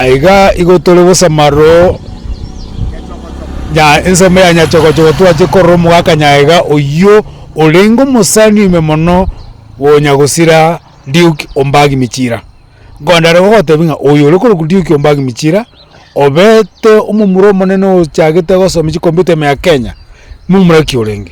Na iga igo tore bosamaro nya ensemo ya nyachokochoko twache korora omogaka nyaega oyio orenge omosani ime mono gonya gosira Duke Ombangi Michira. Nkondare gogotebi ng'a oyo ore korokwa Duke Ombangi Michira obete omomura omonene ochagete gosomia chikomputa ime ya Kenya, momura ki orenge?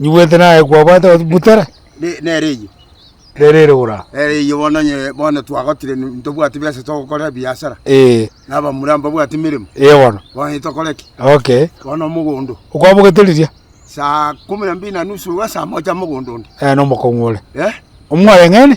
Nyigwete naye kwabwate goteba, Butere. Nere nere eyio. Nere ere ora. Nere eyio bono onye bono twagotire ntobwati besa togokora ebiasara. Ee. Na abamura mbabwati emeremo. Ee bono. Bono tokore ki? Okay. Bono omogondo. Okwabogete riria? Saa kumi na mbili na nusu ase amoche amogondo onde. Ee nomokong'u ore. Ee. Omwareng'ene.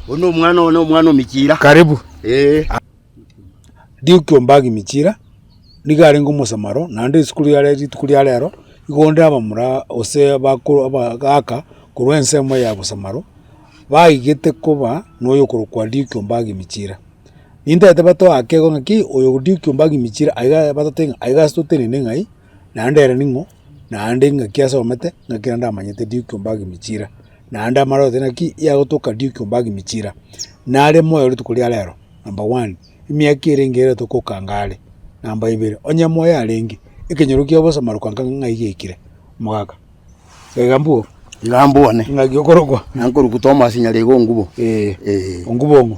Bono omwana one omwana o Michira. Karibu. Ee. Duke Ombaagi Michira nigo arenge omosamaro, naende isiko riare rituko ria rero, igo onde abamura ose abakoro abagaaka korwa ensemo ya bosamaro, baigete koba noyo okorokwa Duke Ombaagi Michira. Nintaete batoe akego ng'aki oyo Duke Ombaagi Michira aiga batote ng'a aiga ase totenene ng'ai, naende ere ning'o. naende ingaki asomete, ingaki naende amanyete Duke Ombagimi Chira, naende amare goteba ng'aki yagotoka Duke Ombagimi Chira, nare moyo rituko ria rero, number one, emiaka ere engiya ere togokanga are, namba ibere, onye moyo arenge, ekenyoro kia obosama rokanga ng'ai gekire, omogaka, iga mbwo? Iga mbwo one. Ng'aki okorokwa? Nankorokwa Thomas nyarego ongubo. Ongubo ng'o?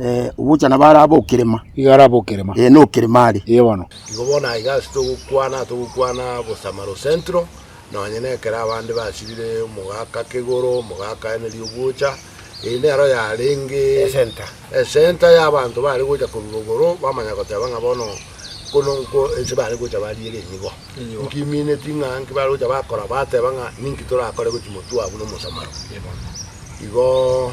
Eh, ogocha nabo arabe okerema. Iga arabe okerema. Eh, nokerema are. Iga bono. Igo bono aiga ase togokwana togokwana Bosamaro Central nonye na ekero abande basibire omogaka kegoro omogaka ene riogwocha eye nero yarenge Esenta. esenta ya abanto bare gocha korwa rogoro bamanya goteba ng'a bono kono nko ense bare gocha bariere nigo Nigo. nkimineti ng'a nki bare gocha bakora bateba ng'a ninki torakore gochia motwe abwo na omosamaro Igo.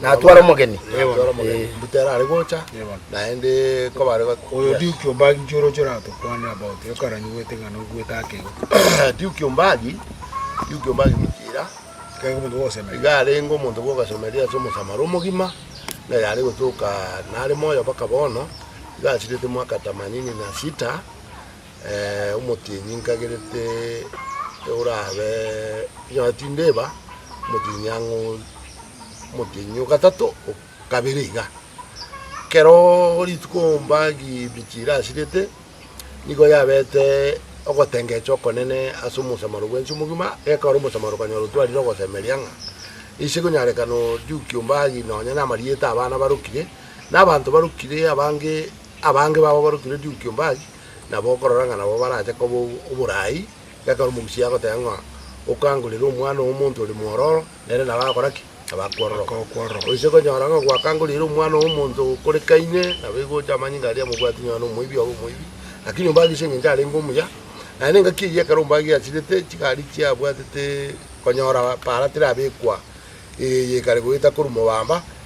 Natware omogeni. Natware omogeni. Eh. Mbuta erare gocha, naende kobare got- Oyo Yes. Duke Ombagi nki oroche oratokwanere about ekaranyigwete ng'a noigwete akegwa. Duke Ombagi, Duke Ombagi gochira, Ekero omonto gogosemera. iga arenge omonto bwogasomeria ase omosamara omogima, na yare gotoka nare moyo mpaka bono, iga asirete mwaka tamanini na sita, eh, omotienyi nkagerete orabe, onye tindeba, omotienyi ang'o. omotienyi o gatato, o kabere iga. Kero rituko mba gibichi irasirete, nigo yabete ogotengecha okonene ase omosamaro bwensi omogima, ekaba ore omosamaro okanyora otwarire ogosemeria ng'a ise ekonyarekana ojukia ombagi nonye na amarieta a abana barokire, na abanto barokire abange, abange babo barokire ojukia ombagi, nabo okorora ng'a nabo barache koba oboraai, ekero omogusia agoteba ng'a okangorere omwana omonto ore mwororo. Nere nabo agakora ki? Abakwororoka. Agakwororoka. Gose konyora ng'a gwakangorire omwana omonto ogokorekaine, nabo igo oche amanyinga aria amobwati nonya nomoibi obe omoibi, lakini ombagie ase engencho arenge omuya, naye nengaki eyio ekero ombagie asirete chigari chie abwatete konyora para tera abekwa eye kare goeta korwa mobamba.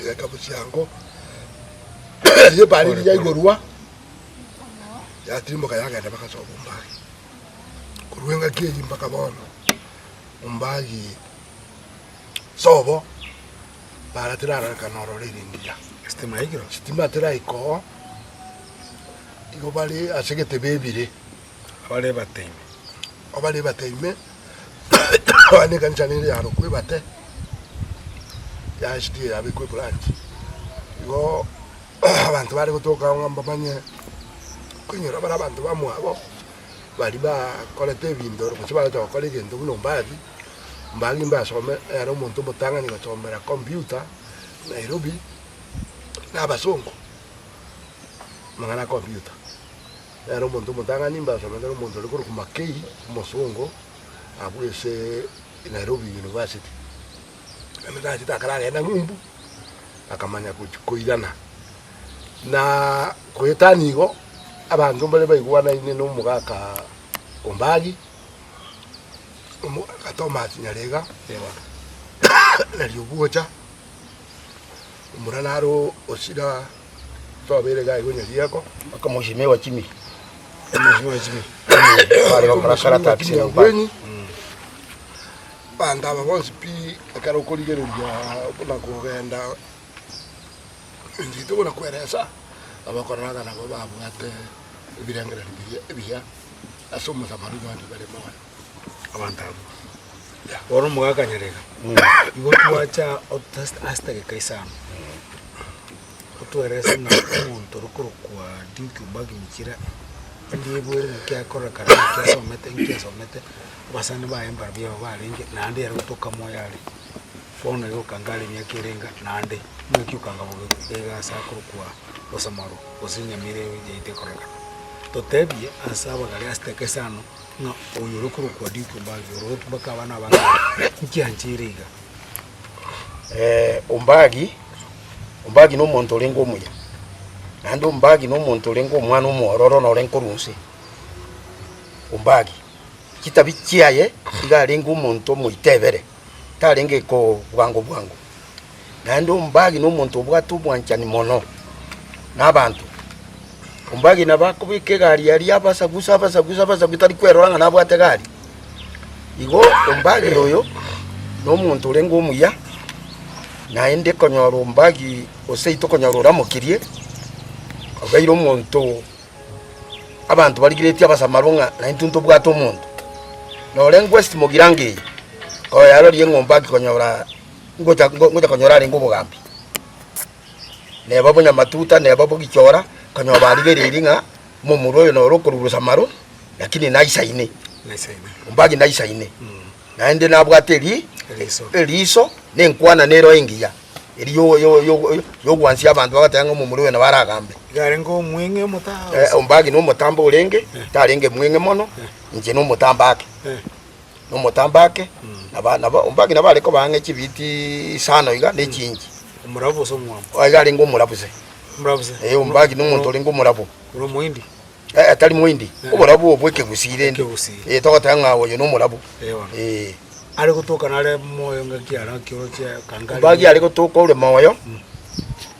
Egekabũ chiango erio ebaani riria yaigorwa, yatirimboka yagenda mpaka ase obombagi, korwa engaki eyio mpaka bono, ombagi sobo bara tirararekana ororo ringiya, sitima tiraika oo, igo bare ase egetebe ebire. abare ebataime. Abare ebataime, abande ekanisa nere yarokwa ebate, yachire yabekwa ebranchi. Igooo abanto bare gotoka agwo ng'a mbamanye koinyora bare abanto bamwabo, baria bakorete ebinto gose bagocha gokora egento buna ombathi, mbagi mbasome ere omonto omotang'ani gosomera computer Nairobi, na abasongo, amang'ana ya computer. Nere omonto omotang'ani mbe asomete nomonto ore korokwa Makei, omosongo, abwo ase Nairobi University. Nabo tachete akaragenda ng'umbu, akamanya gochia koirana. Na goetania igo, abanto mbare baigwanaine na omogaka Ombaagi, omogaka Thomas Nyarega, na Riuguocha, omura naro Osira. Tobeire gaiga onye rieko. Omochimi we chimi. Omochimi we chimi. Bare gokora kara tax na ubani. Banto aba bonsi pi ekero okorigereria buna kogenda enchete buna kweresa abakoreraga nabo babwate ebirengererio biria ebiya ase omosamali bande bare moyo. abanto abwo. Bono omogakanyarega, igo twacha otas- ase tageka isano, otwerese ng'a omonto okorokwa Duke Obagi Michira, ndiebwere naki akorekana, naki asomete, nki asomete, abasani baye mbarabwo aba barenge, naende ere gotoka moyo are. Bono igo okanga are emiaka ere enga, naende ng'aki okanga bobe- bega ase akorokwa Osamaro, gose Nyamira eyo yaito ekorekana. Totebie ase abagare ase tageka isano. Ng'a oyo ore korokwa Diko Mbagi orotwe baka abana abange aba. Inki ancheire iga? Eh, Ombagi, Ombagi nomonto orenge omuya, naende Ombagi nomonto orenge omwana omwororo nore nkorwa inse. Ombagi chitabi chiaye iga arenge omonto omoitebere, tarenge kobwango bwango. Naende ombagi nomonto obwate obwanchani mono nabaanto. Ombagi nabo akobeka egari aria abasagusa, abasagusa, abasagusa, tari kwerora ng'a nabwate egari. Igo ombagi oyo nomonto orenge omuya, naende konyora ombagi oseito konyora oramokirie, obeire omonto abanto barigiretie abasamaro ng'a naintwe ntobwate omonto. Norenge West Mogiranga eye, koyarorire ng'a ombagi konyora. ngocha ngocha konyora arenge obogambi neba bonyamatuta neba bogichora kanyora barigereiri ng'a momura oyo noro okorugurusa maro lakini naisaine ombagi naisaine naende nabwate eri eriso nenkwana nero engiya eri yogwansia abanto bagateba ng'a momura oyo nabaragambe yarenge omweng'e omotambe eh, ombagi nomotamba orenge eh. tarenge mweng'e mono eh. inche nomotamba ake nomotambo ake, na ba- na ba- mbang'ina bare koba ang'e chibiti isano iga ne chingi. Omorabo gose omwabo? Oyo iga arenge omora bose. Omorabo bose? Eh, ombang'ina omonto orenge omora bo. Ore omoindi? Eh, eh, tari moindi. Obora bwo bw'ekegusii rende. Ekegusii. Eh, togoteba ng'a oyo nomora bo. Eh, bono. Eh. Are gotoka nare moyo ngaki ara kiorochia kangari. Ombagi are gotoka ore moyo,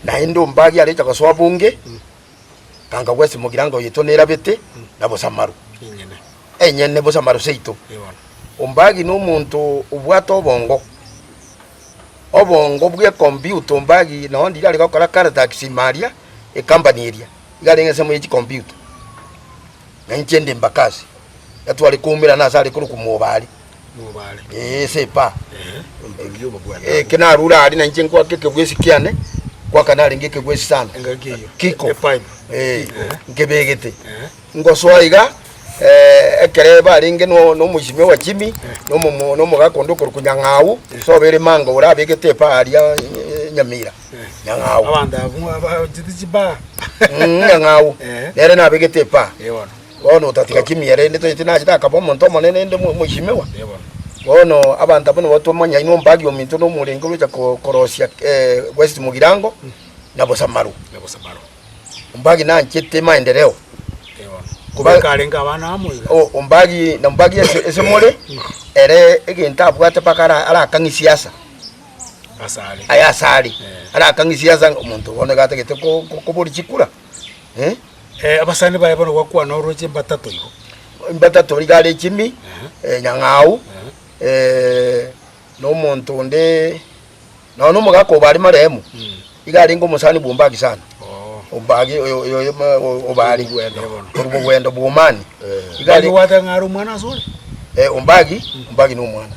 naende ombagi arecha gosoa bonge, Ganga gwesi mogirango yaito nerabete na bosamaru enyene, bosamaru seito. Ombagi nomonto obwate obongo, obongo bw'ekombiuta ombagi nao ndiri are gokora Karatax Imaria, ekambani eria igare ng'ensemo ye chikombiuta. Na inche nde mbakasi, gatware koumerana ase are korokwa mobare. Ee, sepa. Eke narure aria, nainche nkwake ekegwesi kiane, kwaka narenge ekegwesi sana. Kiko. Ee, nkebegete. Ngosoa iga, eh, ekere barenge no- nomoisimia owa Jimmy, nomomo- nomogaka onde okorokwa Nyang'au, soba ere manga ore abegete epa aria eh, Nyamira. Nyang'au. Mm, Nyang'au. Nere nabegete epa. Bono otatiga kimia ere, inde toyete nachete akaba omonto omonene, inde omoisimigwa. Bono abanto abwo nigo twamanya inwe ombagi ominto na omorenge orochia korosia West Mugirango na Bosamaru. Ombagi nanchete maendereo. Ombagi na ombagi ase more ere egento abwate mpaka arakang'e siasa aye asare arakang'e siasa omonto bono iga atagete koboria chikura. Abasani baye bono gwakwana oroche mbatato igo. Mbatato rigare Jimmy, Nyang'au, na omonto onde, nonya na omogaka obo are marehemu, iga arenge omosani bwa Ombagi sana, Ombagi oyo obare korwa Bogwendo bwa Omani. Ombagi gwateba ng'a are omwana asore? Ombagi, Ombagi nomwana.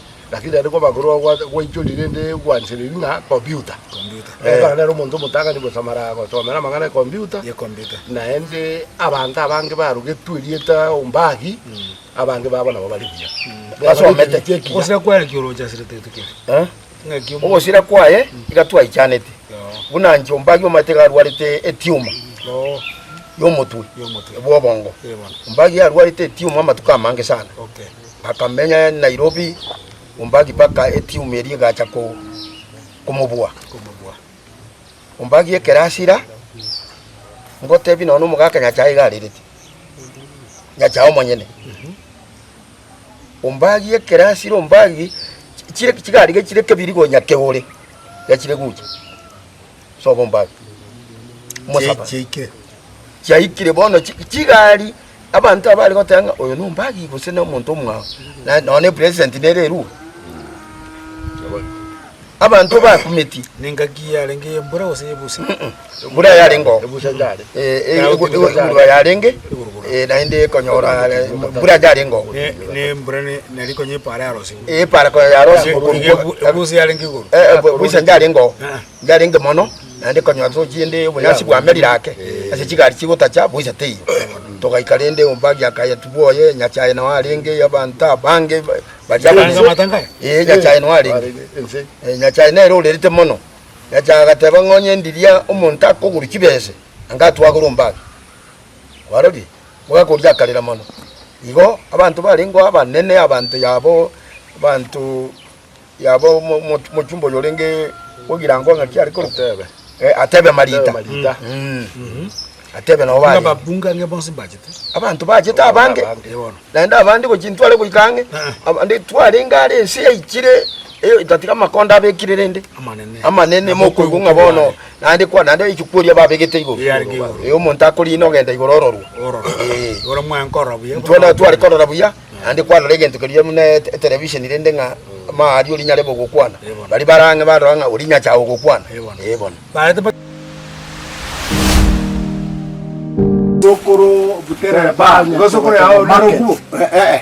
Lakini aria kw'abakorwa gwaichorire rende gwanchereria ng'a computer. Computer. Eeh. Ekero nere omonto omotang'ani gosamara gosomera amang'ana e computer. Ye computer. Naende abanto abange barugetwe erieta ombagi, abange babo nabo bare buya. Basomete echia ekiya. Ogosira kwaye naki orochasirete gete keria? Eeh. Ng'aki omonto. Ogosira kwaye iga twaichanete. Yoo. Buna inche ombagi omanyete iga arwarete etiuma. Oo. Y'omotwe. Y'omotwe. Bw'obongo. Eeh bono. Ombagi arwarete etiuma amatuko amange sana. Okay. Akamenya Nairobi ombagi mpaka etimu eria egacha komobua. Ombagi ekero asira, ngotebi nonya omogaka Nyasae iga arerete, Nyasae omonyene. Ombagi ekero asira ombagi, chigari chire kebiri konya keore gachire gocha. Sobo mbabe. Omosabani. Chiaike. Chiaikire bono chi- chigari abanto abare goteba ng'a oyo nombagi gose na omonto omwao Na- nonya ne president nere erua abanto bakumetie Nengaki yarenge y'embura gose y'ebusa? bura yarengeo Ebusa yare. egurugura yarenge Egurugura. eh, naende ekonyora eh, bura yarengeo Ne- ne embura ne- nari konye epaara yarosire. Eepara konya yare ase Ekorwa ekorwa ekorwa ekorwa ebusi yarenge igoro. Eh, eh, bwe- bwisa ndarenge oo ndarenge mono naende konyora tochia ende obonyasi bwamerire ake ase chigari chigotacha bwisa teiyo togaika rende ombagi akaya tiboye nyachae nao arenge abanto abange ba- baria Nyasae abange amang'ata ngaya? eh nyachae nao arenge Ense. Eh, nyachae nere orerete mono nyachae agateba ng'o onye ndiria omonto akogorwa chibese anga atwagore ombagi kwarorire Bagakoria akarera mono. Igo abanto barengeo abanene abanto yabo abanto yabo mochumba oyo orenge ogirango ng'aki are korwa atebe Marita atebe nabo abanto bachete abange naende abande gochia intware goika ang'e abande twarenge are ense yaichire tatiga amakonda abekire rende amanene mokoigwa ng'a bono Naende kwana, naende aike kworia ababegete igoro. Ee, arenge igoro. Ee, omonto akoriina ogenta igoro ororwe. Ororo. Ee. Igoro mwange korora buya. Intwe nao tware korora buya, naende kwarora egento keria buna e- etelevisheni rende ng'a mao aria orinyare bogokwana. Ee, bono. Baria bare ang'e barora ng'a oria inyache ago gokwana. Ee, bono. Ee, bono. Barete ba- Sokoro butere banya. Igo sokoro yao naro Market. kuo? Eh, eh.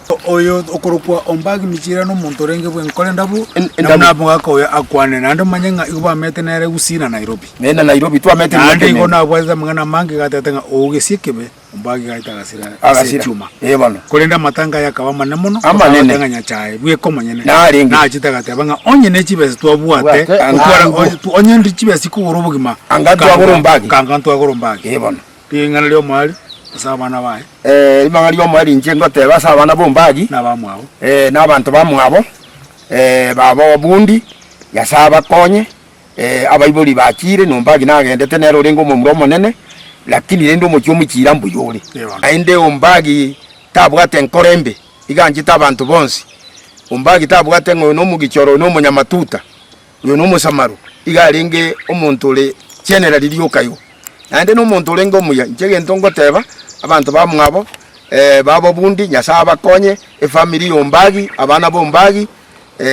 Oyo okorokwa ombagi michira nomonto orenge bwengo kore ndabu nabo namogaka oyo akwane naende omanye ng'a igo bamete nere Gusii na Nairobi Naye na Nairobi twamete naende miaka igo emenge. nabwatete amang'ana amange gatete ng'a ougesie ekebe ombagi gaete agasira ase Agasira. echuma Eh, bono. korende amatanga aye akaba amane mono Amanene. agateba ng'a nyachae bweka omonyene Narenge. nachete agateba ng'a onye ne chibesa twabwate Bwate, gotwara- angaribo. onye- onye ndi chibesa chikogora obogima Anga twagora ombagi. kanga ntwagora ombagi Eh, bono. Ring'ana ri'omoerio ase abana baye. Ee, ring'ana ri'omoerio inche ngoteeba ase abana b'ombagi. Nabamwabo. Ee, nabanto bamwabo, ee, babo obundi, Nyasae abakonye. Ee, abaibori bachiire, n'ombagi nagendete, nere orenge omomura omonene, lakini rende omochie omochiira mbuya ore. Ewana. Naende ombagi tabwate enkoro embe, iga anchete abanto bonsi. Ombagi tabwate ng'a oyo nomogichoro, oyo nomonyamatuta. Oyo nomosamaru, iga arenge omonto ore chienera riria okaywa, naende nomonto orenge omuya. Inche egento ngoteba abanto bamwabo, babobundi, Nyasae abakonye, efamiri y'ombagi, abana b'ombagi,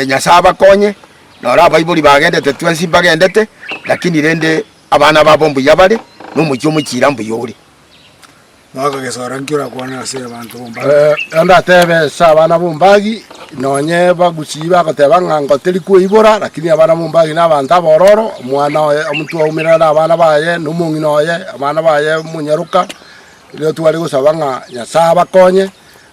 Nyasae abakonye. Noro abaibori bagendete twensi mbagendete, lakini rende abana babo mbuya bare, na omochie omochiira mbuya ore. Bakagesora, Nki orakwane ase abanto b'ombage? Naende atebe ase abana b'ombage, Nonye bagusii bagoteba ng'a ngotiri kweibora, lakini abana b'ombage nabanto abororo, omwana oye omonto oumera nabana baye, na omong'ina oye, abana baye, omonyaroka. Erio tware gosaba ng'a Nyasae abakonye.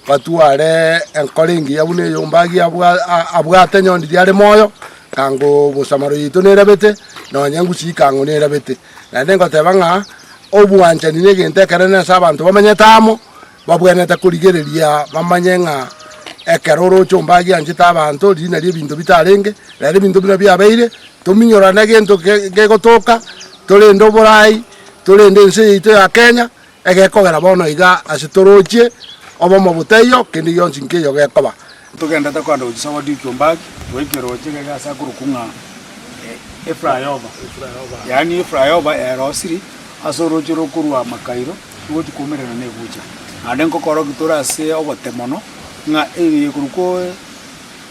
Batware enkoro engiya buna eyo omombagi abwate onye ondiri are moyo, na ngo bosamaro yaito nerabete, na onye engusu ya ikang'o nerabete. Naende ngoteba ng'a obwanchani negento ekenene ase abanto bamenyete amo, babwenerete korigereria bamanye ng'a ekero oroche omombagi anchete abanto riina ri'ebinto bitarenge, nere ebinto buna biabeire, tominyorane gento kegotoka, torende oboraai, torende ense yaito ya Kenya, Egekogera bono iga ase toroche obomo botaiyo kende gionsi nkeiyo gekoba. Togendete kwanda gochia Sabati ekio mbaki goika eroche iga iga ase akorokwa ng'a Eflyover, yaani Eflyover erosiri ase oroche rokorwa Makairo togochia kwaumererana na Egucha. Naende nkokorokigwa tore ase obote mono ng'a eye ekorokwa.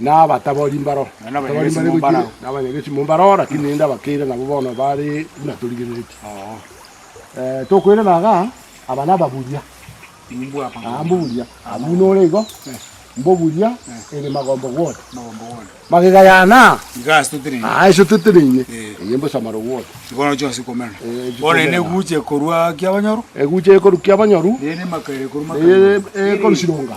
na abatabori mbaro, abatabori mbare gochire, na abanyagesi mo mbaro, lakini rende abakeire nabo bono bare buna torigereretie. Eh, tokoirana iga, aba nababuria, ah, mboburia, ah, buna ore igo, mboburia ere magomba gwota, magega yana, Iga ase toteneine. ah, ase toteneine, Eh. eye mbosamare gwota. Igo nacho ase komerana. Eh, Bono ere chikomera. negucha ekorwa kiabanyoro, Egucha ekorukia abanyoru, rende emakaire ekorwa eye makango. ekorusironga.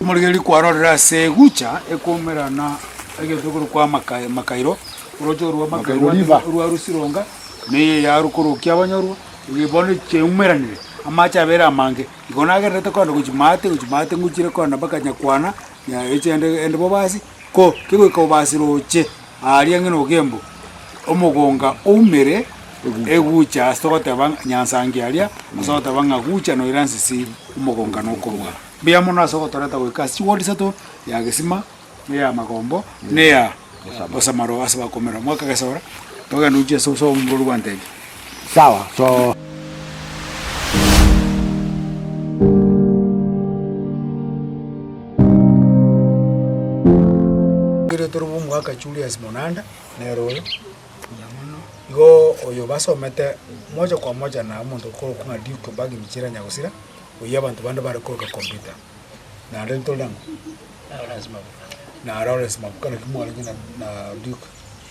Omorigereria kwarorire ase egucha ekomerana egento ekorokwa kwa Makairo, orooche orwa Makairo orwa Rusironga, na eye yarukorokia abanyorwa, eye bono chiumeranire, amache abere amange. Igo nagendererete korenda gochia maate gochia maate ngochire korenda mpaka Nyakwana, Nyarechende, Endebobasi. Ko kegoika obase roche aaria ng'ina ogembu, omogonga oumere egucha ase togoteba ng'a nyansangi aria, gose ogoteba ng'a gucha noira nsisi, omogonga nokorwa mbuya mono ase ogotoreta goika ase chigori isato, ya gesima, na eya magombo, na eya bosamaro ase bakomerwa. Mwakagesora, togende gochia ase obosa bwa omoborori gwantebi. Sawa to. Ere toro bw'omwaka Julius Monanda nere oyo. Igo oyo basomete moja kwa moja na omonto okorokwa ng'a Duke Obagi Michira Nyagosira, oyio abanto bande bare koroka kompyuta. Naende ntore na ng'o? Na Lawrence Mabuka naki mwarenge na na Duke.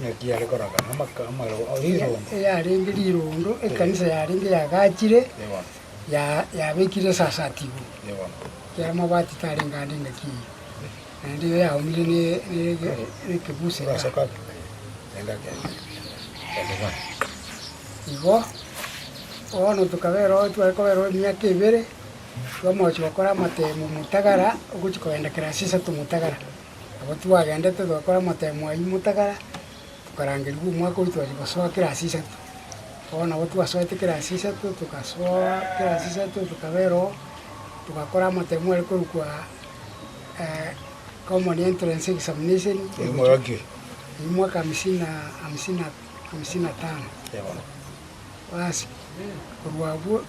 Naki are koraga namaka amareo a rirondo. Eyarenge rirondo, ekanisa yarenge yagachire, yabekire esasa ati igo, ekiagera amabaati tarenge ande ngaki eyio, naende iga yaumire nekebusi kaa. Igo bono tokabereo, tware kobereo emiaka ebere, twamochi gokora amatemo Mutagara, ogochi kogenda Kilasi Isato Mutagara. Nabo twagendete togakora amatemo ayio motagara, tokarangerigwa omwaka oito twacha gosoa ekerasi isato. Bono nabo twasoete ekerasi isato, togasoa ekerasi isato tokaba ero, togakora amatemo are korokwa common entrance examination, omwaka amisini na amisini na amisini na tano. Basi korwa abwo.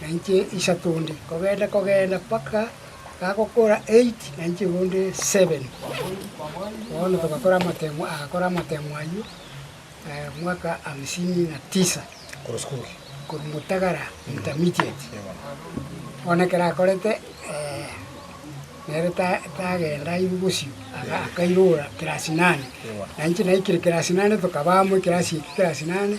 na inche isato onde, kogenda kogenda mpaka gakokora eiti, na inche bonde seven. Bono togakora amatemo, agakora amatemo ayio mwaka hamsini na tisa, korwa Mutagara Intermediate. Bono ekero akorete nere tagenda airwe bosio, akairora class nane, na inche naikire class nane, tokaba amo ekerasi eki class nane,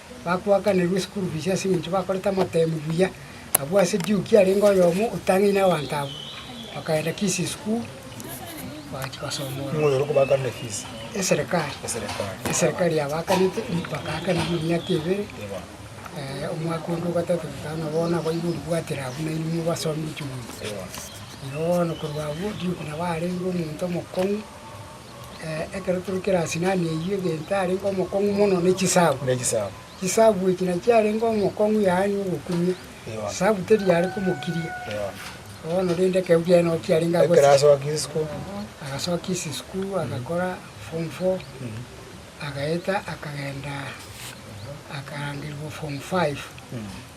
Bakoakanerwa esukuru fiisi ase engencho bakorete amatemu buya. Abwo ase Jukia arenge oyomo otang'eine abanto abwo. Bakaenda Kisi esukuru, bagachia gosoma ororo. Eserekari. Eserekari yabaakanete, bakaakanigwa emiaka ebere, omwaka onde o gatato goika ng'a bono abwo igo oribwatire abwo nainwe mobasomi gochia gocha. Igo bono korwa abwo, Jukia nabo arenge omonto omokong'u. Ekero tore Kirasinani eyio egento arenge omokong'u mono ne chisabu. Chisabu echi nachiarenge omokong'u yaani ogokumia, sabu teri yare komokiria. Bono rende ekero kiaye kiarenge agwo agasoka isisku agakora form four agaeta akagenda akarangerigwa form five.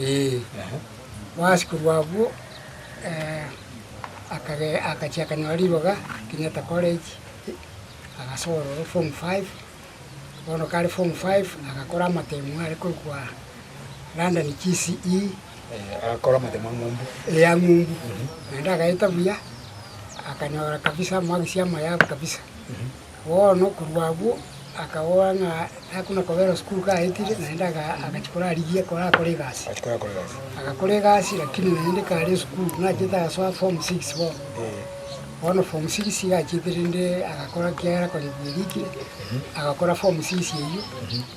Ee, boasikuru abwo akachia akanyora riroga Kenyatta College, agasoa ororo form five. Bono kare form five agakora amatemo are korokwa London GCE. Agakora amatemo a ng'umbu. Ee, a ng'umbu. Naende agaeta buya, akanyora kabisa, moagisi amaye abe kabisa. Bono korwa agwo akabora ng'a nakona kobera sukuru kaetire, naende agachia korarigia korakore egasi. Agakora egasi lakini naende kare esukuru, nachete agasoa form six bono. Bono form six iga achiete rende agakora ekiagera kore bwerikire, agakora form six eywo,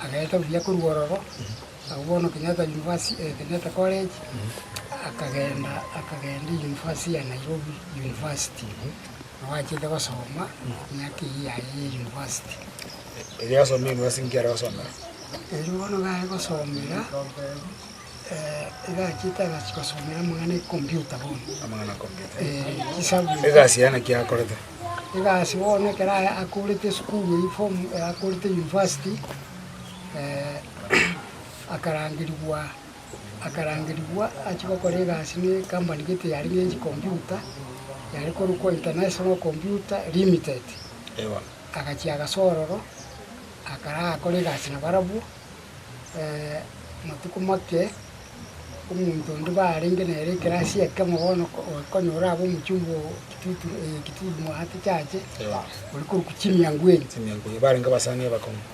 agaeta buya korwa ororo, agwo bono Kenyatta University Kenyatta College, akagenda akagenda University ya Nairobi University. Nabwatete gosoma miaka eyio yaye ya university. Erio yasomire university nki are gosomera? Erio bono iga are gosomera iga achete agachia gosomera amang'ana ecomputer bono. Amang'ana ya computer. Eh, chisabu. Egasi yaye naki akorete? Egasi bono ekero akorete esukuru eyio form akorete university akarangerigwa. akarangerigwa achie gokora egasi ne ekampani gete yare ne chi computer, yare korokwa International Computer Limited. Agachia agase ororo, akarakore egasi na barabwo, matuko make, omonto onde barenge nere ekerasi ekemo bono okonyora abe omochumba o kitutu eketiti mwaate chache, ore korokwa chimiango ebi. Barenge abasani abakong'u.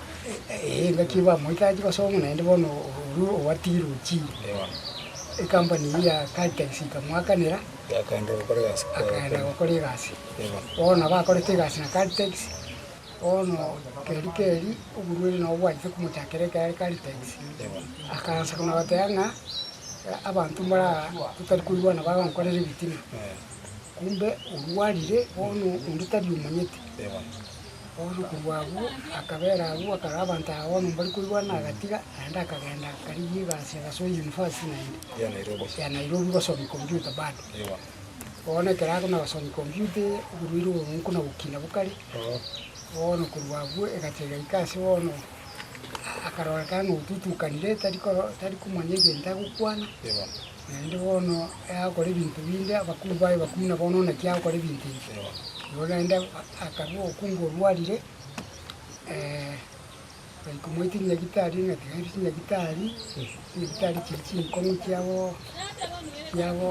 Engaki bamoite achi gosoma naende bono orure owatigire ochire. Ekampani eyio ya Caltex ikamoakanera, akaenda gokora egasi. Bono nabo akorete egasi na Caltex, bono keri keri oborwaire nabo bwanchete komochakera ekero are Caltex. Akaansa buna goteba ng'a abanto mbara totari koigwana bagonkorera ebitina, kumbe orwarire bono onde tari omanyete. Obotuko bw'abwo akabeera agwo akarora abanto aba bono mbari koigwana, agatiga, naende akagenda akarigia egasi agasuba eyunivasiti naende ya Nairobi gosomia computer bado. Bono ekero akonya gosomia computer eye, oborwaire obo bomonko na gokina bokare, bono korwa abwo egacha egaika ase bono akarorekana ng'a otutukanire tari koro tari komanya egento agokwana. Naende bono agakora ebinto binde, abakungu baye bakwina bono, na naki agokora ebinto ebi. Igo naende akarua obokungu obwo bwarire, baikamoa chinyagitari, na tiga aria chinyagitari, chinyagitari chiria chinkong'u chiabo chiabo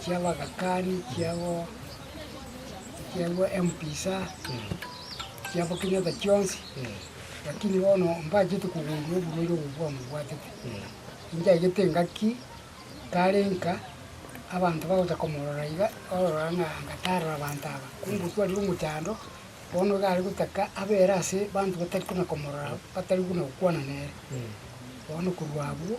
chiabagakani, chiabo chiabo embiisa, chiabo kera egento kionsi, lakini bono mbachete kogundua oborwaire obo bwamobwatete. Inchagete engaki tare nka abanto bagocha komorora iga, barora ng'a anga tarora abanto aba. Kongotwarire omochando, bono iga are gotaka abe ere ase abanto batari kona komorora, batari buna gokwana nere. Bono korwa abwo,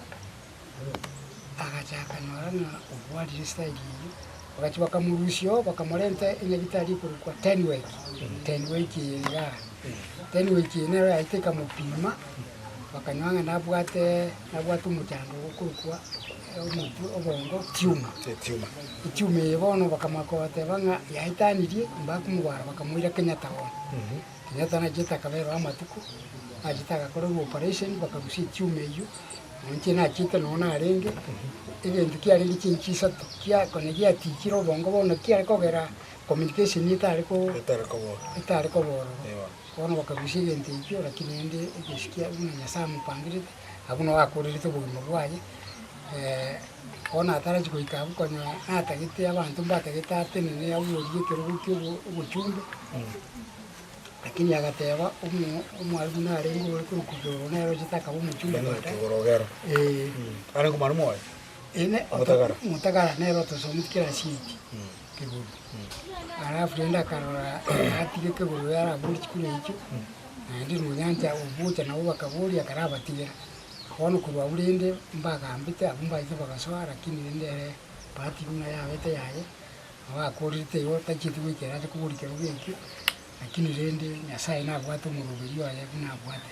agachaka nora ng'a obwarire style eyio, bagachia bakamorusia oo bakamorenta enyagitari ekorokwa Tenwek, Tenwek eye igaa. Tenwek eye nero yaetete ekamopima. Bakanywa ng'a nabwate nabwate omochango ogokorokwa omotwe obongo tiuma. Etiuma eye bono bakamoaka bateba ng'a yaetanirie, mbakomogwara bakamoira Kenyatta bono. Kenyatta nachete akaberwa amatuko, nachete agakorerwa operation bakarusia etiuma eyio, nainche nachete nonye narenge, egento kiarenge chinchi isato kia kona giatichire obongo bono kiare kogera communication etare ko- Etare kobororo. etare kobororo. Bono bakarusia egento ekio, rakini rende egesukia buna Nyasae amopangerete, abwo nao akoorerete obogima bwaye. Bono atarachi goika abwo konya natagete abanto mbatagete atenene abuorie ekerogo kia obochumbe, rakini agateba omo- omwarimu narenge ore korokwa igoro nere ochete akaba omochumbe baadaye. Ee. Omotagara nere otosometi kirasi eye. kegori. Alafu rende akarora natige kegori oyo arabore chikure echio, naende nonyancha ogocha nabo bakaboria akarabatigera. Bono korwa agwo rende mbagambete abwo mbaete bagasoa lakini rende ere bahati buna yabete yaye, nabo akorerete igo tachieti goikera ase kobori kerogo ekio, lakini rende Nyasaye nabwate omoroberio oye buna abwate.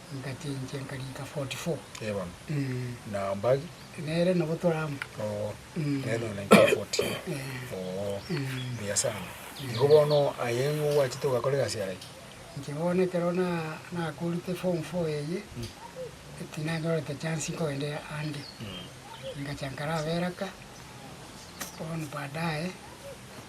Engaki enchia enkarika 44. Eban, na Bag. Nere nabo toramo. Oo, nere nonye na enchia 40. Oo, mbuya sana. Igo bono aye nigo gwachete ogakora egasi yare ki? Inche bono ekero na, nakorete form four eye, tinanyorete chance nkogenda ande. Ngachia nkara Beraka, bono baadaye.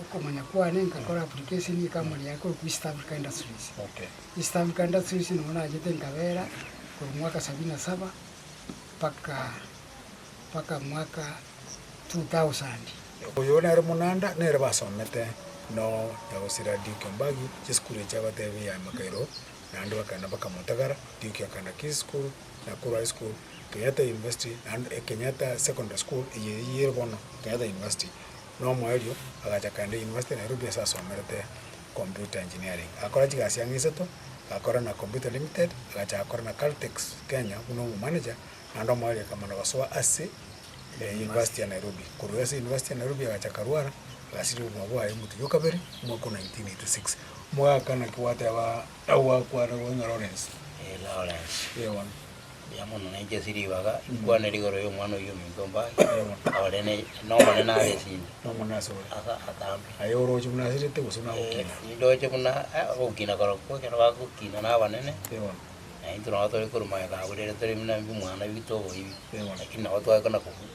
okomanya kwane nkakora application ye company yaye korokwa East Africa Industries. East Africa Industries nigo nachete nkabera korwa mwaka sabini na saba mpaka mpaka mwaka 2000. Oyo nere Munanda nere basomete no nyagosera Ndeuki Ombagi chisukuru echi agotebia ya Emakairo naende bakagenda mpaka Mutagara, Ndeuki akagenda Kisii School, Nakuru High School, Kenyatta University naende Kenyatta Secondary School eye eye ere bono Kenyatta University. Nomoerio agacha kende university Nairobi ase asomerete computer engineering. Agakora chigasi ang'e isato, agakora na Computer Limited, agachaka gokora na Caltex Kenya buna omomanager, naende omoerio ekamana gosoa ase university ya Nairobi. Korwa ase university ya Nairobi agacha akarwara, agasibia obogima bwaye omotugi o kabere omwaka o 1986. Omogaka naki gwateba, nagwakwana gose ng'a Lawrence. Lawrence. Eeh bono. Mbuya mono, nainche ase ribaga inkwanere igoro y'Omwana oyio ominto mbae ore n'Omonene are ase ime, Nomone ase ore. ase atambe. Aye oroche buna asirete gose buna agokina. Eh, nindoche buna eh, ogokina korokwo ekero bagokina na abanene, Ewana. naintwe nabo tore korwa magega abwo rirorio tore buna mbi mwana bitoboibi, Ewana. lakini nabo twakana kobua.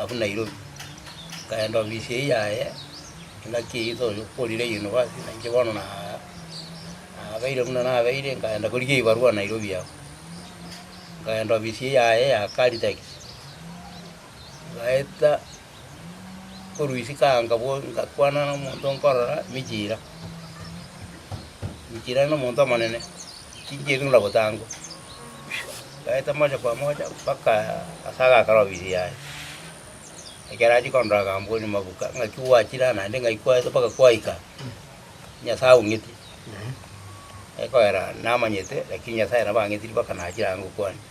abwo Nairobi, nkaenda ofisi eye yaye, engaki eye tokorire university, na inche bono na- nabeire buna nabeire, nkaenda korigia ebarua Nairobi abwo. Nkaenda ofisi eye yaye ya Caltex, ngaeta korwa isiko anga bono ngakwana na omonto nkorora Michira, Michira nomonto omonene. Chichiirigwe na gotangwa, baeta mocha kwa mocha mpaka ase agaaka rwabigiri yaye. Ekero achia kondora akambooria, Mabuka, ng'aki gwachire aa naende ng'ai kwaete mpaka kwaika? Nyasae aung'eti? Ekoera, Namanyete, lakini Nyasae nabo ang'etiri mpaka nachire aa ngokwania.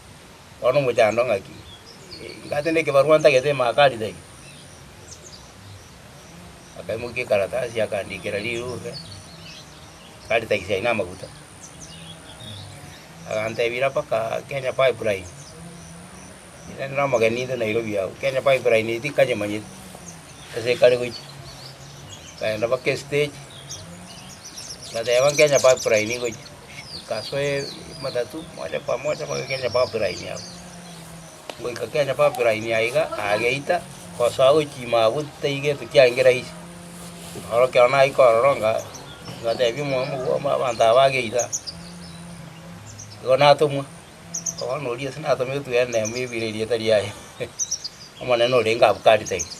Bono omochando ng'aki? Ingate nekebarua ntagete ime aka ritari? Akaimokia ekaratasi akandikera rirube. Karita ise aino amaguta, agantebia, Ira mpaka Kenya Pipeline, ere nere omogeni intwe Nairobi agwo, Kenya Pipeline eye tikanyemanyeti ase ekare gochia. Nkagenda mpaka estage, ngateba Kenya Pipeline igochia, nkasoe matatu moja kwa moja mpaka Kenya Pipeline agwo. Goika kera Babiloni aiga ageita gosoa gochiima agwo titaigetwe chiangi rahisi. Noro ekero nagoika ororo nga ngateebia omwabo bw'abo abanto aba ageita, igo natomwa, bono oria ase natometwe ere nemo ebere erieta riaye, Omonene ore Ngabukari-taiga.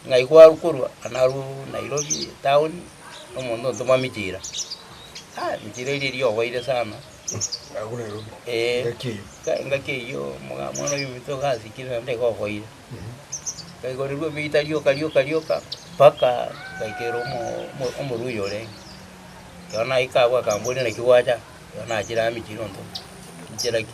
Ng'ai kwaru korwa? Narwo Nairobi town, nomonto ontoma michira. Aa michira eria eri oboire sana. engaki eyio omwana o Yusufu togasikire naende iga oboire. Nkaigorirwa ebiita rioka rioka rioka mpaka ngaikerwa omo- omo- omorwa oyo orenge. Ekero naika abwo akamboria naki gwacha, ekero nachire amiche iga ntoo, inchera ki?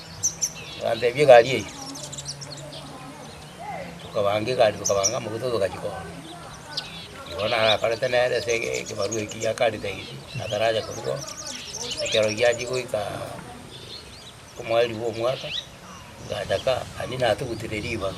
Bagatebia egari eyio. Tokabanga egari tokabanga amaguta togachia korwa. Igo narakorete nere ase ege ekebarua eki gia Karitais ataracha korigwa ekero giachia goikaaa omweri bwa omwaka, ngacha kaa, aria natugutire ribaga.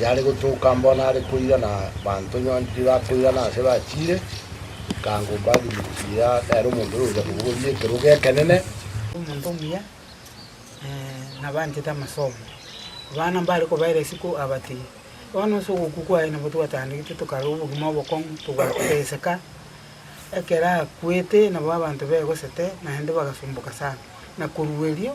Yare gotoka mbo nare koirana abanto nyoni riria bakoirana ase bachiire, ekango Barnabas eria nere omonto oyo ogochia kobogoria ekerogo ekenene. Omonto omuya nabaanchete amasomo, abana mbare kobaera isiko abatebie, Bono ase ogokwa kwaye nabo twatandegete tokarora obogima obokong'u, togakoteseka. Ekero akwete nabo abanto begosete, naende bagasomboka sana, na korwa erio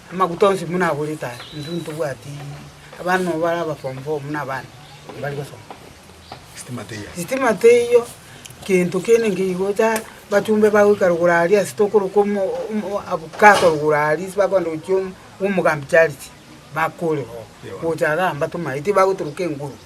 Amaguta onsi buna agorete aya, intwe ntobwati abana nobo bare aba form four buna abande mbare gosoma. Sitima teiyo. Sitima teiyo, kento kende nkeigo ta, bachumbe bagoika rogoro aria ase tokoroka omo omo avocado rogoro aria ase bakoenda gochia omo omogambi charity, bakore oo, Ewana. gocha iga mbatoma eti bagotoroka enguru.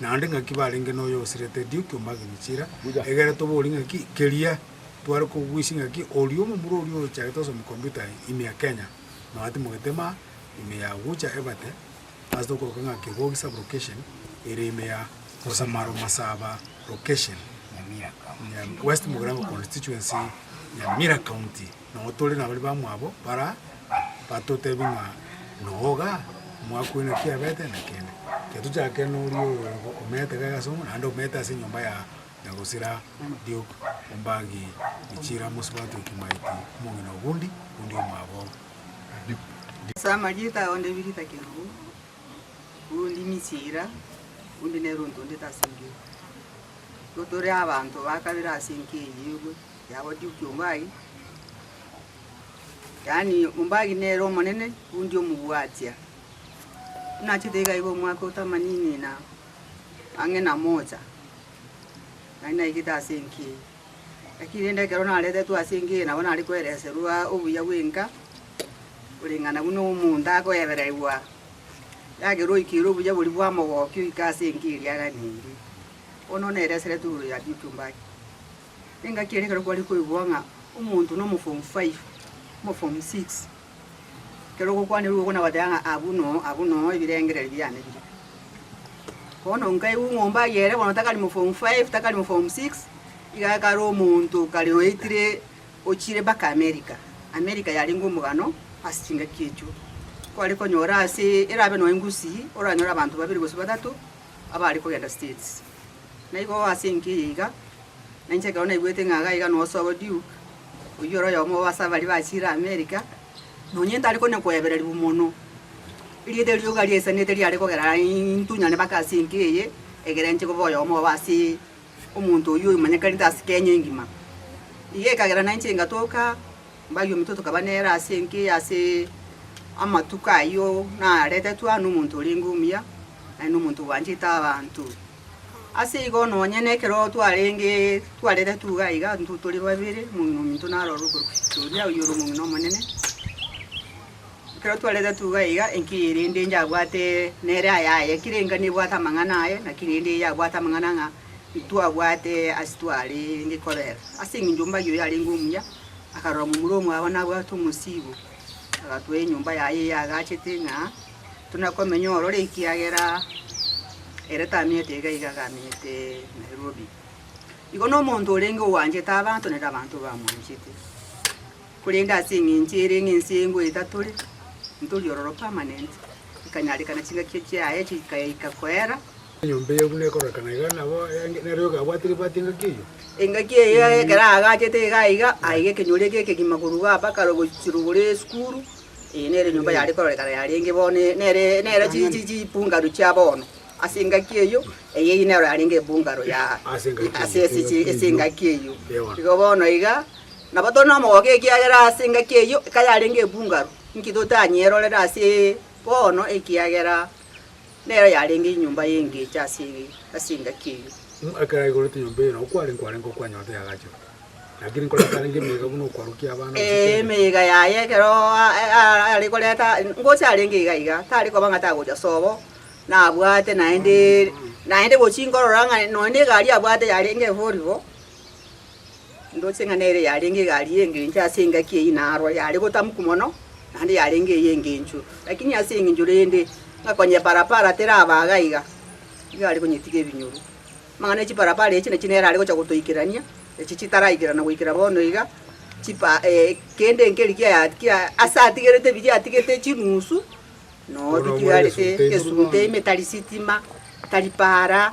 naende ng'aki barenge noyo osirete edio ekiombe ase Michira, egere tobori ng'aki keria tware koguisia ng'aki oria omomura oria ochagete ase omokombito aye ime ya Kenya, nonya timogetema ime ya Ogucha Ebate, ase tokoroka ng'a Kegogi sub-location ere ime ya Osamaro Masaba location, West Mugirango constituency, Nyamira county. Nao tore nabaria bamwabo bara batotebie ng'a noga omwaka oino naki abete, na kende getochake noria oyo omeete iga ase omonto, naende omeete ase enyomba ya nyagosira Duke Ombangi Ichira Mosubati Kimaiti omong'ina Ogundi, Ogundi omwabo Duke. Ase amarieta ao ndebire ritake riu, Ogundi Nichira, Ogundi nere ontondete ase engencho. Igo tore abanto bakabere ase enka eyio igwe. Yabwatia okiombaagi, yaani ombaagi nere omonene bwendi omobwatia. Buna achete iga iga omwaka o tamanini na ang'e na mocha, nari naigete ase enka eye. Lakini rende ekero naretetwe ase enka eye nabo nare koereserwa obuya bw'enka, koreng'ana buna omonto akoebererigwa yagera oikire obuya boria bwa mogokia oike ase enka eria aganeirie. Bono neereseretwe igoro ya Dioki ombaagi. Engaki ere ekero kware koigwa ng'a omonto nomo form five, omo form six, ekero ogokwanerwa igoro nabateba ng'a abwo noo, abwo noo ebirengererio biane bire. Bono nkaigwa omombe aye ere bono takari omo form five, takari omo form six, iga akare omonto kare oetire ochire mpaka America. America yarenge omogano ase chingaki echio. Kware konyora ase erabe nonye ngusii, oranyore abanto babere gose batato abare kogenda States. Na igo ase enki eye iga, na inche ekero naigwete ng'a iga nigo osoa Duke, oyio ore oyomo obo ase abaria bachiire America, nonye ntari konya koebererigwa mono, erieta rioka riaisanete riare kogera intunyane mpaka ase enki eye, egere inche koba oyomo obo ase omonto oyio omanyekanete ase Kenya engima. Iga ekagera na inche ngatoka Mbaiyo ominto tokaba nere ase enka eye ase amatuko ayio naretetwe aa nomonto orenge omuya, naende nomonto obwanchete abanto. Ase igo nonye nekero twarenge twaretetwe iga iga intwe tore babere, omong'ina ominto narorwe okorokwa Sitoria, oyio ore omong'ina omonene. Ekero twaretetwe iga iga enka eye rende inche abwate nere ayaye, kera enka nebwate amang'ana aye, naki rende eye abwate amang'ana ng'a. Intwabwate ase twarenge korera, ase engencho mbaiyo oyarenge omuya akarora momura omwabo nabwate omosiibo, agatoa enyomba yaye eye agachete ng'a tuna komenya ororo, ekiagera ere tamenyete iga iga iga amenyete Nairobi. Igo na omonto orenge owanchete abanto naende abanto bamwanchete, korende ase engencho ere ng'a ense eye ngoeta tore, ntori ororo permanent, ekanyarekana chingaki chiaye chikaika koera. Enyomba eyio buna ekororekana iga nabo ere, na rioka abwate ribwati engaki eyio. Engaki eyio yaye ekero aagachete iga aiga, aiga ekenyoro ekia ekegima korwa iga mpaka rogochirwa gore esukuru, eye nere enyomba yare kororekana yarenge bono e- nere nere chi chi chi bungalow chia bono. Ase engaki eyio, eye eye nero yarenge ebungalow ya Ase engaki eyio, ase ase chi ase engaki eyio. Ewa. Igo bono iga, nabo tore na omogogo ekiagera ase engaki eyio, ekero yarenge ebungalow, inki totanyierorere ase bono ekiagera. Nero yarenge enyomba y'engecho ase engaki eyio. Ng'a ekero aigoretie nyomba eye, nao kware nkwarenge okwanyora tiyagachirwe. Naki nigo atarenge emeyega buna okwarukia abana gose Ee, chende. emeyega yaye ekero a- a- are koreta, gose arenge iga iga, tari koba ng'a tagocha sobo, nabwate naende, naende gochia nkorora ng'a nonya na egari abwate yarenge efori bo. Ndoche ng'a nere yarenge egari y'engencho ase engaki eyio narwo yare gotamuku mono, naende yarenge ey'engencho. Lakini ase engencho rende, ng'a konyeparapara teraba iga iga, nigo are konyetiga ebinyoru. Amang'ana ya chiparapara echi nachio nere are gocha gotoikerania, echi chitaraikerana goikera bono iga, chipa eh, kende nkeri kia kia ase atigerete ebiya atigete chinusu, nonya Bono omorere bitigarete, esuguta esuguta ime, tari sitima, tari para,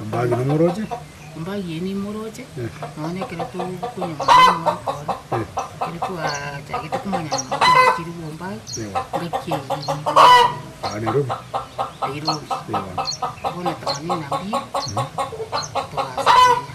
Ombagi nomoroche? Ombagi eye nimoroche, nonya na ekero tokonyora omwaka ore, ekero twachagete komanya ng'a twachire korwa ombagi, ngaki Nairobi. Nairobi. Bono togane na mbio, togacha komenya.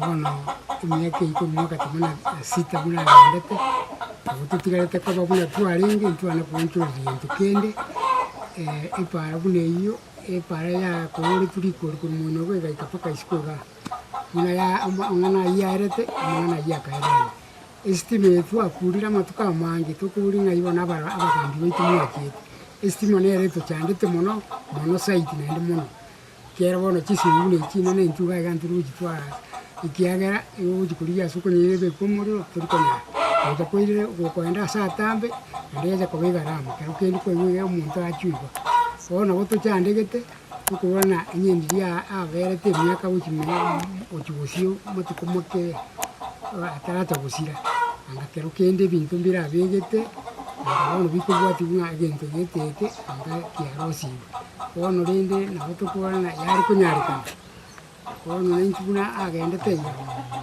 bono emiaka eyio tobua gati buna esita buna agendete, nabo totigarete koba buna twarenge, ntwane koonchoreria gento kende, epaara buna eyio, epaara yakooretwe rikori korwa moino iga egaika mpaka isiko igaa, buna ya ama amang'ana ayio yaerete, amang'ana ayio akaererwa. Esitima eye twakuurire amatuko amange tokori ng'a igo na abara abagambi baito mwachete, esitima nere etochandete mono mono zaidi naende mono. Ekiagera bono chisinguru echi inana enchuga iga ntiri gochitwara ase, ekiagera igo ogochia korigia ase okonyeira ebekwe omorero tori konyara. Gocha koirire gokoenda ase atambe, naende yacha koba egarama, ekero kende kwaigwa iga omonto achwe iga. Bono nabo tochandegete, tokobua ng'a onye ndiri aa aberete emiaka gochia mia gochia gosio amatuko make aa ataracha gosira, anga ekero kende ebinto mbirabegete, anga bono bikobwatigwa ng'a egento gete eke anga kiarosigwe. Bono rende nabo tokobora ng'a yare konyarekana, bono naintwe buna agendete iga,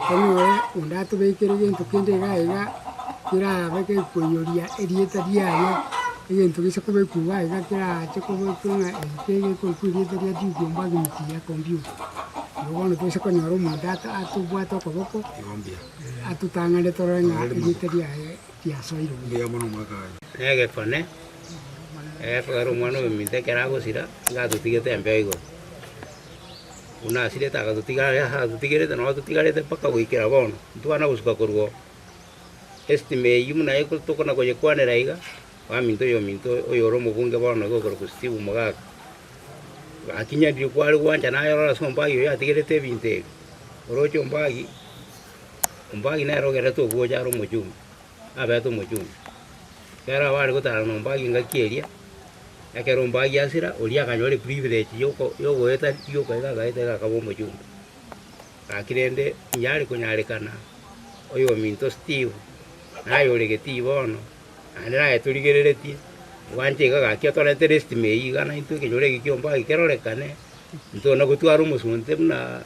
tari noe onde atobekere gento kende iga iga kerabe gekoiyoria erieta riaye, egento gise kobekwa iga iga kerache kobekwa ng'a eki kegere korokwa erieta ria Juda omwagimiti ya kompyuta. Nabo bono toise konyora omonto ata atobwate okoboko, atotang'ane torore ng'a erieta riaye. tiasoire omonto oyomo nomwaka oye. Negekone, egekogera ere omwana oyominto ekero agosira, nigo atotigete embeo igoro. Buna asirete agatotiga aye aa atotigerete nabo totigarete mpaka goikera bono. Ntwana gosuka korwa oo. Estima eyio buna eko tokona koyekwanera iga, oaminto oyominto oyo ore omobunge bono iga okorokwa Steve Mogaka, gakinyaririe kware gwancha nayerora ase ombagi oyo yatigerete ebinto ebi, oroche ombagi. Ombagi nere ogenderete ogocha are omochumba, abete omochumba. Ekero abare gotaarana na ombagi engaki eria, ekero ombagi asira, oria akanyora eprivilege yoko yogoeta rioka iga agaeta iga akaba omochumba. Gaki rende onye are konyarekana, oyominto Steve, naye ore Geti bono, naende naye torigereretie, gwancha iga gaki otorete restime eyio iga naintwe ekenyoro eke kia ombagi kerorekane, intwe onagotwara omosunte buna.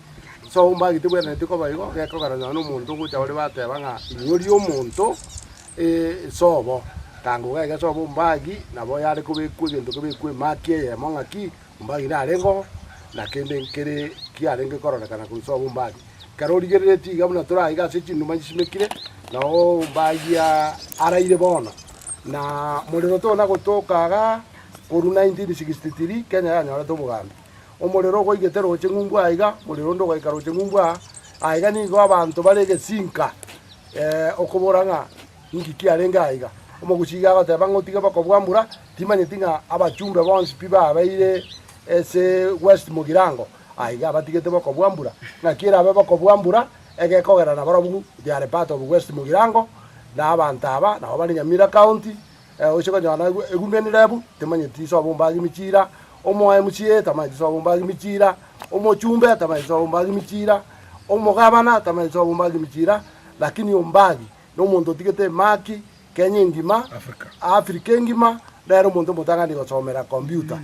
So omba gati bwenereti koba igo, gekogera nonya nomonto ngocha ore bateba ng'a inyori omonto sobo, tango iga iga sobo ombagi nabo yare kobekwa egento kebekwa emaki eyemo ng'a ki, ombagi narengeo na kende nkere kiarenge kororekana korwa sobo ombagi. Ekero origerereti iga buna tore aiga ase chinduma chisimekire, nao ombagi aa araire bono, na morero tona gotoka igaa korwa 1963 Kenya yanyorete obogambi. Omorero ogwaigete roche ng'umbu aiga, morero onde ogaika roche ng'umbu aa, aiga nigo abanto bare egesinka okobora ng'a inki kiarenge aiga. Omoguchiki agoteba ng'a otige bokobua mbura, timanyeti ng'a abachumbe bonsi pi babeire ase West Mugirango aiga abatigete bokobua mbura. Ng'aki erabe bokobua mbura egekogera nabarobwo they are part of West Mugirango na abanto aba nabo bare Nyamira County. Oche konyora egumi endirebu temanyeti iso abombe age michira, omoaye mochie tamanyeti iso abombe age michira, omochumbe tamanyeti iso abombe age michira, omogabana tamanyeti iso abombe age michira, lakini ombagi nomonto otigete emaki Kenya engima, Africa engima, nere omonto omotang'ani gosomera kompyuta,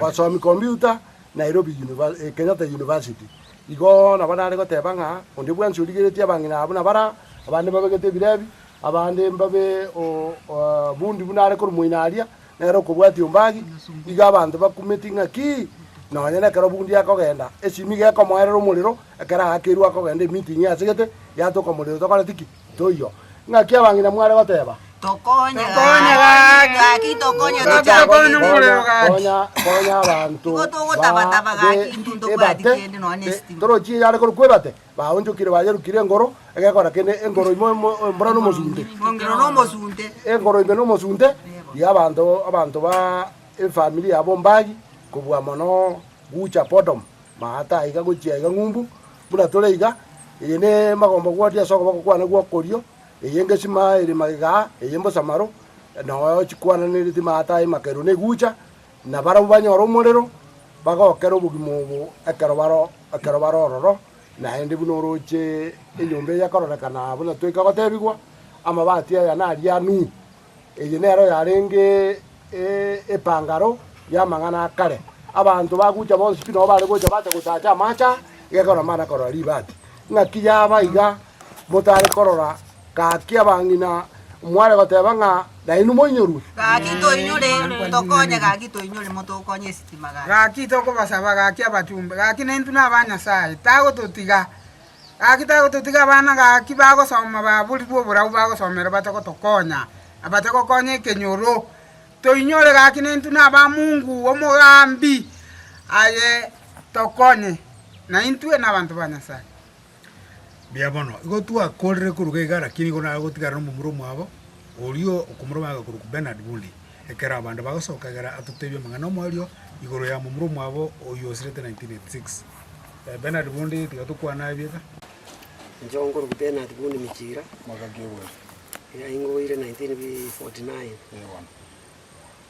basomi kompyuta Nairobi Kenyatta University. Igo nabo nare goteba ng'a onde bwensi origeretie abang'ina aa buna baraa, abande babegete ebirebi, Abande mbabe obundi buna are koromoina aria, nere okobwatia ombagi. Igo abanto bakumeti ng'aki nonya nekero obundi akogenda, esimi nigo ekomoerera omorero, ekero agakerwa akogenda emeeting asegete, yatoka omorero tokoreti ki? Toiyo. Ng'aki abang'ina mware goteba? Tokonye gaki tokonye tochaborie kende. Konya konya abanto Igo togotabataba gaki intwe ntobwati kende nonya esitima. Torochie eyare korokwa ebate. Baonchokire bayerukire engoro, egekora kende, engoro ime embura nomosunte, engoro ime nomosunte, riria abanto, abanto ba efamiri yabo mbagi kobua mono gucha Podom, maata aiga gochia aiga ng'umbu, buna tore iga, eye ne magomba gwatia ase okoboko kwane gw'okorio, eye ngesima ere magega aa, eye mbosamaro, na oyo chikwananireti maata aye makeru negucha, Na barabwo banyore omorero, bagokere obogima obo ekero bare ororo, naende buna oroche enyomba eye ekororekana aa buna toika gotebigwa, Amabati aya nari a Nuhu. Eye nero yarenge epangaro y'amang'ana a kare. Abanto bagucha bonsi pi nabo bare gocha bache gotacha amache aa, iga ekero namana korora ribati. Ng'aki yaba iga motare korora. Gaki abang'ina mware goteba ng'a nainwe moinyorwe. Gaki toinyore, tokonye, gaki toinyore, motokonye esitima, gaki. Gaki tokobasaba, gaki abatumbe, gaki naintwe naba Nyasae, tagototiga. Gaki tagototiga abana, gaki bagosoma baborigwe oborabu bagosomera batagotokonya, na batagokonya ekenyoro. Toinyore, gaki naintwe naba Mungu omogambi, aye tokonye, naintwe nabanto ba Nyasae. Mbuya mono. Igo twakorire koruga iga lakini nigo nagotigarana omomura omwabo, oria okomoroma agakorokwa Bernard Bundy. Ekero abande bagosoka egere atotebie amang'ana omoerio igoro ya momura omwabo oyio osirete 1986. Bernard Bundy tiga tokwane aye bieka. Inche nkorokwa Bernard Bundy Michira, yaingoire 1949.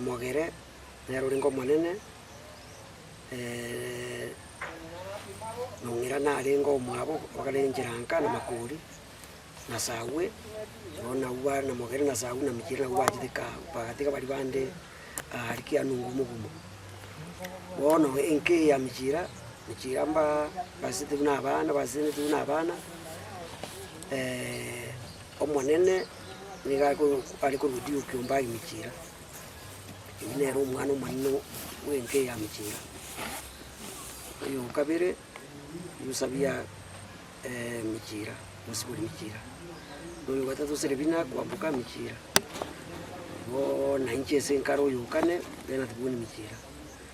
mogere nere orenge omonene, mong'ina narenge omwabo bagare enchera nka na makori, na sawe, igo nabwo bare na mogere na sawe na mechie nabwo bachete kaa bagatiga bari bande aare ki ane omogumo ogumo. Bono enka eye ya mechira, mechira mbaa mbasisitiwu na abana basesenetiwu na abana. Omonene nigo are korudia okiombe aye Michira. Oyio nere omwana omonene bw'enka eya Michira. Oyo o kabere Yusabia Michira, mosibore Michira. Oyo o gatato Serebina kwamboka Michira. Igo nainche ase enkare oyo o kane Benathibuni Michira.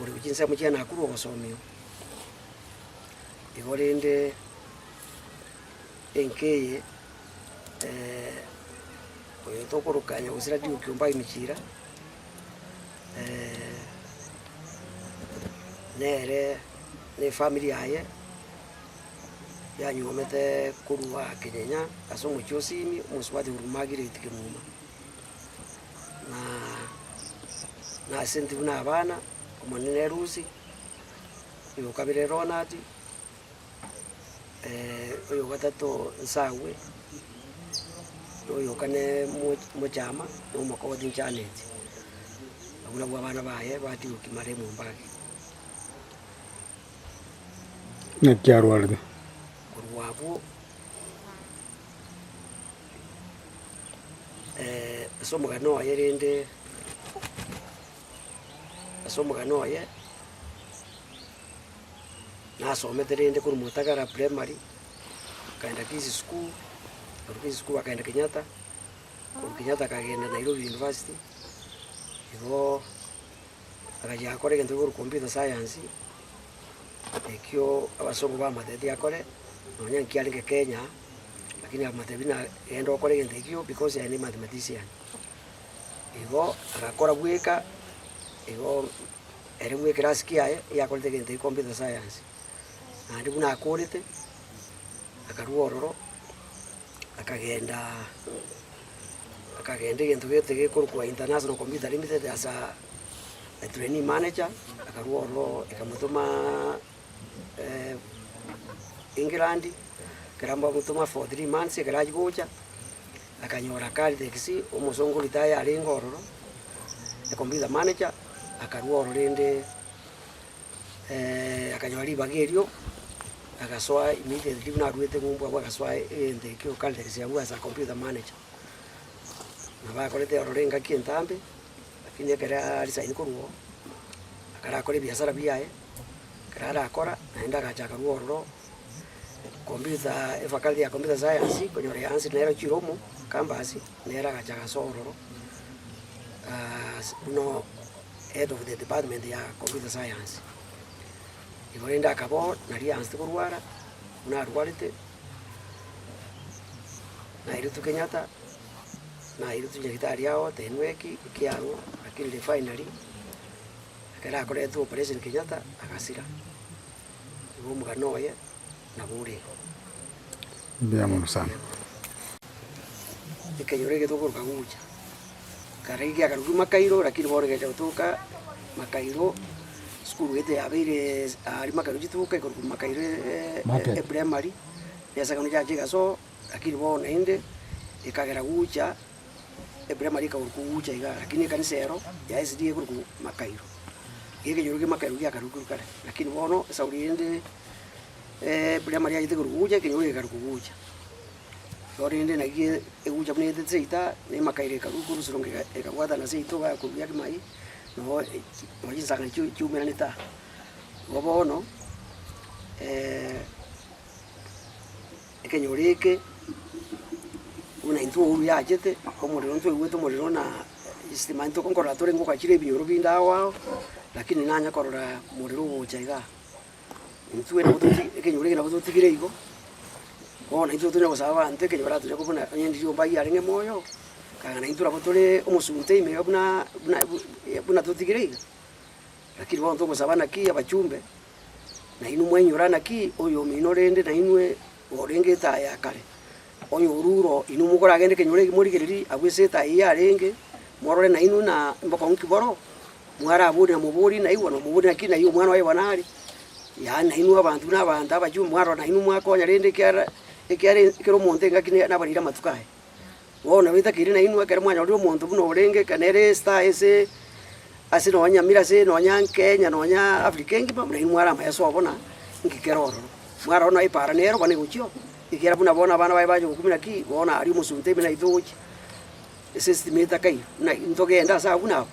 Ore gochia inse amochie nakorwa ogosomigwa. Igo rende enka eye oyo tokoroka nyagusira Duke ombae emechira nere na efamiri yaye yanywoomete korwa aa Kenyenya ase omochie o Sini, omosubati Huruma Giliti Kimuma. na ase intwe buna abana, omonene Lucy, oyo o kabere Ronald, oyo o gatato Nsagwe, na oyo o kane Moch- Mochama, na omokogoti Janet. Abwo nabwo abana baye batigwe ki mare emomba ake. Naki arwarete. Korwa abwo. ase omogano oye rende, ase omogano oye, nasomete rende korwa motagara primary, nkaenda kisi skul, korwa kisi skul akaenda kenyatta, korwa kenyatta akagenda nairobi university, igoo agachia agakora egento kegoro computer science, ekio abasongo bamateti akore, nonya nkiarenge kenya. Lakini akamotebi, na, genda okore egento ekio, because aya nemathematician. Igo agakora bweka igo ere bwe ekerasi kiaye yakorete egento ekio computer science, naende buna akorete, akarua ororo akagenda akagenda egento gete gekorokwa international computer limited asa a trainee manager akarua ororo ekamotoma. England, ekero mbamotoma for three months ekero achia gocha, akanyora kari taxi omosongo retired arenge ororo, e computer manager, akarua ororo rende akanyora ribaga erio, agasoa immediately buna aruete ng'umbu abwo agasoa egento ekio kari taxi abwo ase a computer manager. Nabo akorete ororo engaki entambe, lakini ekero aresign korwa oo, akarakore ebiasara biaye. ekero arakora, naende agacha akarua ororo computer efakati ya computer science, konyora eyaansi nero chiromo, campus, nere agacha agasoa ororo aaas buna head of the department ya computer science. Igo rende akaba oo nari agasete korwara, buna arwarete, nairutwa kenyatta, nairutwa nyagitari agotenwa eki, ekiagwo, lakini refinery. Ekero akoretwe Operation Kenyatta agasira, igo omogano oye nabo ore igo. Ekenyoro egetwe okoruga gocha ekero giakarugigwe Makairo lakini bono egecha gotoka Makairo esukuru eye tiyabeire aria Makairo chituka ekorokwa Makairo Primary, ebiasakano biacha egasoa lakini bono naende ekagera gocha. Ebirema rikaurwa kogucha iga, lakini ekanisa eyero yaesiri yaigurwa korwa makairo, iga ekenyoro kia makairo giakarurwa korwa kare, lakini bono esauri ende ebirema riagete korwa kogucha ekenyoro gekarwa kogucha. Igo rende naki egucha buna egete seita, na emakairo ekarurwa korwa esorongo ega ekabwatana seito igaa korwa ria kimai, nogo echi nonya chinsangani chiu chiumeranete aa. Igo bono. Ekenyoro eke, buna intwe oyo yachete omorero ntweigwete omorero na esitima intwe nkorora tore ngoka chire ebinyoro binde agwo ao, lakini nanye korora omorero ogocha iga. Intwe nabo toti ekenyoro eke nabo totigire igo, bono intwe tonya gosaba abanto ekenyoro atonya kobuna onye ndi riomba aye arenge moyo, kang'ana intwe nabo tore omosunte ime iga buna buna bu buna totigire iga. Naki bono togosaba naki abachumbe, nainwe mwainyora naki oyomino rende nainwe orenge etaa ya kare, oyoruro inwe mokoragende kenyoro eke morigererie agwo ase etaa eyio yarenge, morore nainwe ng'a mbokong'u ki boroo, mwaraboria moborie naigwa, na moborie naki nai omwana oye bono are. Yaani nainwe abanto buna abanto abachumbe mwarora nainwe mwakonya rende ekiara ekiara ekero omonto engaki ne nabarire amatuko aye. Bono bitakeire nainwe, ekero mwanyorire omonto buna orenge, ekero nere Easter ase ase nonya Nyamira ase nonya Kenya nonya Africa engima, buna inwe mware amayeso oo buna inki kere ororo. Mwarora buna epaara nero buna egochia oo, ekiagera buna bono abana baye bacha gokumia ki, bono aria omosunte ime naye togochia ase estima etaka eyio, buna intogende ase abwo buna abwo.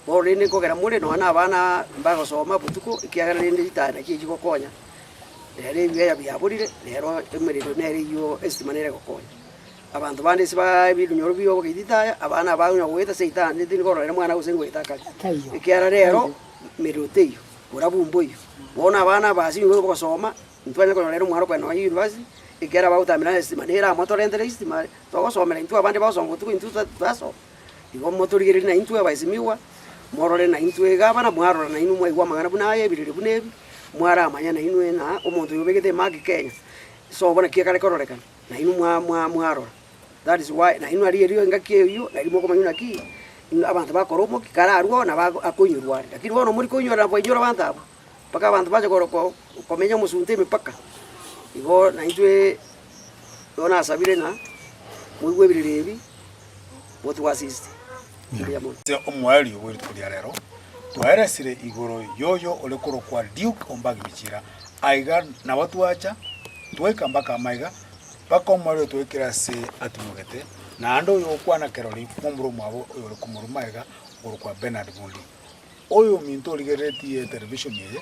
Bono rende nkogera more nonya na abana mbagosoma botuko, ekiagera rende ritaya naki echi gokonya, nere ebibeya biaborire, nero emerero nere eyio estima nere egokonya. Abanto bande inse baa ebirunyoro bi'obogaititi aya, abana abao onye goeta ase eitaara naende tindi kororera mwana gose ngoeta akare, ekiagera reero emerero teiyo, borabu mboiyo. Bono abana aba ase engencho y'ogosoma, intwe twanyare konyorera omwana okogenda nonya university, ekiagera bagotaamera nere estima nere amotorentere estima are, togosomera intwe abande bagosoma botuko intwe ta tatasoma. Igo motorigererie na intwe abaesimigwa, morore na intwe iga abana mwarora na inwe mwaigwa amang'ana buna aya ebirori buna ebi, mwaramanya na inwe ng'a omonto oyo obegete emaki Kenya, sobo naki ekare kororekana. nainwe mwarora, nainwe aria erio engaki eyio, nainwe mokomanya buna ki abanto bakora omokia kararwo oo nabo akoinyurwa are. Lakini bono mori koinyora na koinyora abanto abwo, mpaka abanto bache komenya omosunte emepaka. Igo naintwe igo nasabire ng'a moigwe ebiriri ebi motwasiste. Mbuya mono. Ase omoerio bwe rituko ria rero, twaeresire igoro y'oyo ore korokwa Duke o Mbagibichira, Aiga nabo twacha, twaika mpaka amaiga, mpaka omorero otwaikire ase atumogete, naende oyokwana kerori momura omwabo oyore komoru magega okorokwa Bernard Mundi. Oyominto origereretie etelevishoni eye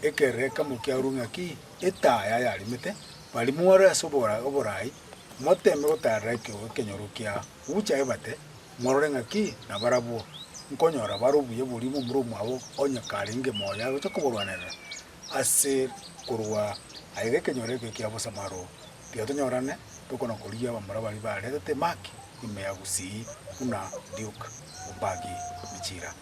ekererekamo kiarure ng'a ki etaa yaye arimete, bari more ase obora oboraai, moteme gotaarera ekeo ekenyoro kia gucha ebate, morore ng'a ki nabarabwo nkonyora bare obuya boria momura omwabo onye karenge moyo agocha koborwanerera. Ase korwa aye gekenyoro ekio kia bosamaro giatonyorane, tokona korigia abamura baria baretete Mark ime ya Gusii buna Duke Ombagi Michira.